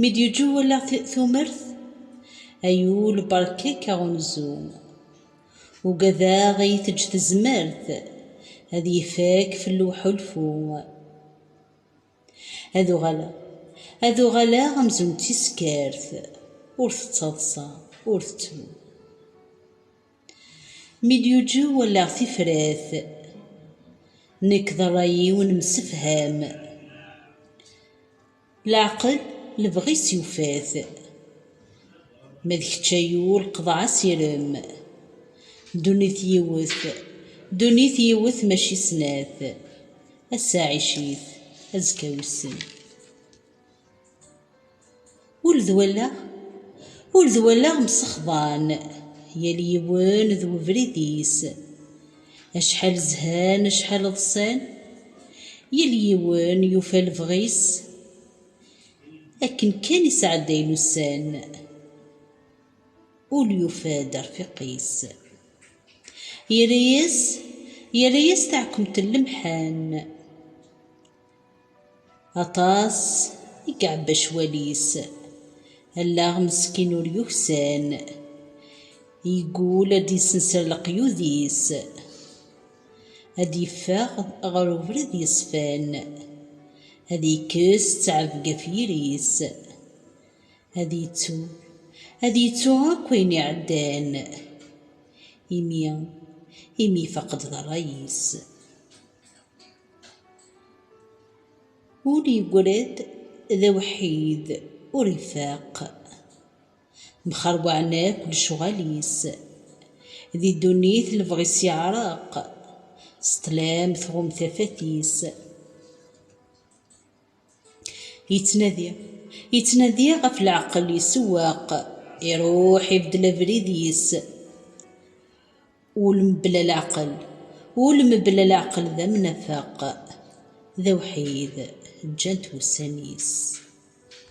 Mi d-yeǧǧu wallaɣ tumert, Ay ul beṛkek aɣunzu. Ugadeɣ iyi-teǧǧ tezmert, Ad yefak fellu uḥulfu. Ad uɣaleɣ, ad uɣaleɣ Amzun d tiskert, Ur tettaḍsa, ur tettru. Mi d-yeǧǧu wallaɣ tifrat, Nekk d ṛṛay-iw nemsefham. Leɛqel lebɣi-s yufa-t. Ma d kečč ay ul qḍeɛ asirem. Ddunit yiwet, ddunit yiwet mačči snat. Ass-a ɛic-it, azekka wissen. Ul d wallaɣ, ul d wallaɣ msexḍan. Yal yiwen d webrid-is. Acḥal zhan acḥal ḍsan. Yal yiwen yufa lebɣi-s. Akken kan i sɛeddayen ussan. Ul yufa-d arfiq-is. Yerra-yas yerra-yas taɛkemt n lemḥan. Aṭas i iɛebba ccwal-is. Allaɣ meskin ur yuksan. Yeggul ad d-yessenser leqyud-is. Ad d-yeffeɣ ɣer ubrid yeṣfan. Ad yekkes ttɛebga ɣef yiri-s. Ad yettu, ad yettu akk ayen iɛeddan. Imi, imi ifaq-d d rray-is. Ur yegred d awḥid, ur ifaq. Mxerwaɛen akk lecɣal-is. Di ddunit lebɣi-s yeɛreq. S ṭṭlam tɣumm tafat-is. Yettnadi, yettnadi ɣef leɛqel isewweq, iruḥ ibeddel abrid-is. Ul mebla leɛqel, ul mebla leɛqel d amnafeq, d awḥid, ǧǧan-t wussan-is.